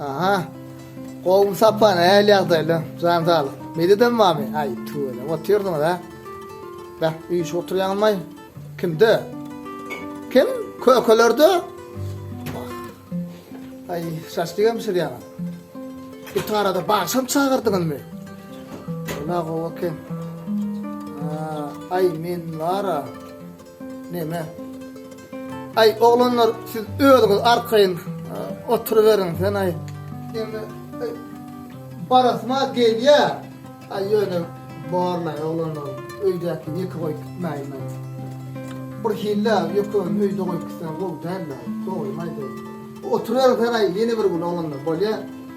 Aha. Gowmy sapan, äl ýagdaýlar, jan saglyk. Medetem barmy? Aý, tüweleme otyrsyňyz, a? Bäh, üýşüp oturýaňmaý. Kimde? Kim? Kökelerde? Wah. Aý, şaşlygam bişirýäňiz. Öte arada bagşam çagyrdyňyzmy? Ula gowy eken. Aý, men bar-a. Neme? Ay oglanlar siz özüňiz arkayyn oturuveriň sen ay. Neme? Barasma gelýä. Ay ýöne barla oglanlar öýdäki ýeke goýup gitmäýin. Bir hille ýökün öýde goýup gitsen gowy däldi. Gowy maýdy. Oturuveriň sen ay ýene bir gün oglanlar bolýa.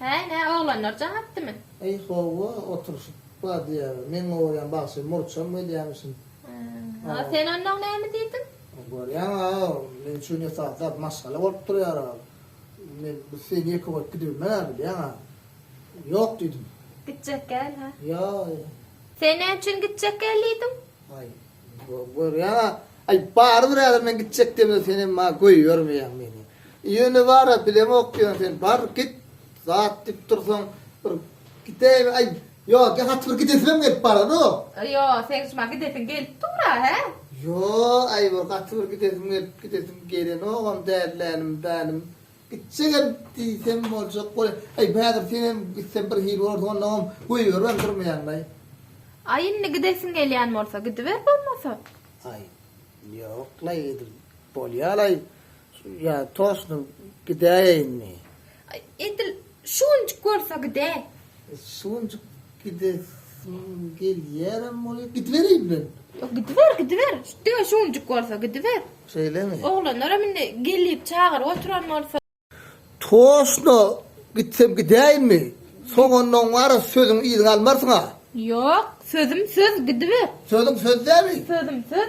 Häý, nä, oglanlar jaň atdymy? Eý, hawa, oturyşyp badýaga. Men gorýän bagşy murçam gelýämişin. A sen onnoň näme diýdiň? Görýäň-ä, meň üçin esasy zat maşgala bolup durýar-a. Men biz sen ýeke bolup gidibilmän-ä, bilýäň-ä. Ýok diýdim. Gitjek däl-hä? Ýa-ýa. Sen näme üçin gitjek däl diýdiň? Aý, Görýäň-a, aý, barybir häzir men gitjek demde sen hem maňa goýbermeýäň meni. Ýöne bar-a, bileňok ýöne sen, bar, git. Zat diýip dursaň, bir gidäýme, aý, ýok, ýa gaty bir gidesimem gelip bardanok. Ýo, seň şu maňa gidesiň gelip dur-a, hä? Ýo, aý, bir gaty bir gidesim gelip, gidesim gelenogam däl, lälim-bälim. Gitjegem diýsem boljak bol. Aý, häzir senem gitsem birhili bolarsyň, onnoňam goýberibem durmaýanlaý. Aý, indi gidesiň gelýän bolsa, gidiber bolmasa. Aý, ýoklaý, edil bolýalaý. Ýa, tosnup gidäýeýinmi? Aý, edil Şu günjük bolsa gide. Şu günjük gidesim gelýärem bolýa. Gidibereýin men. Ýok, gidiber, gidiber. Diňe şu günjük bolsa gidiber. Şeýlemi? Oglanlaram indi gelip çagyryp oturan bolsa. Toşno gitsem gidäýinmi? Soňundan wara sözüňi yzyňa almarsyň-a. Ýok, sözüm söz, gidiber. Sözüň söz dälmi? Sözüm söz.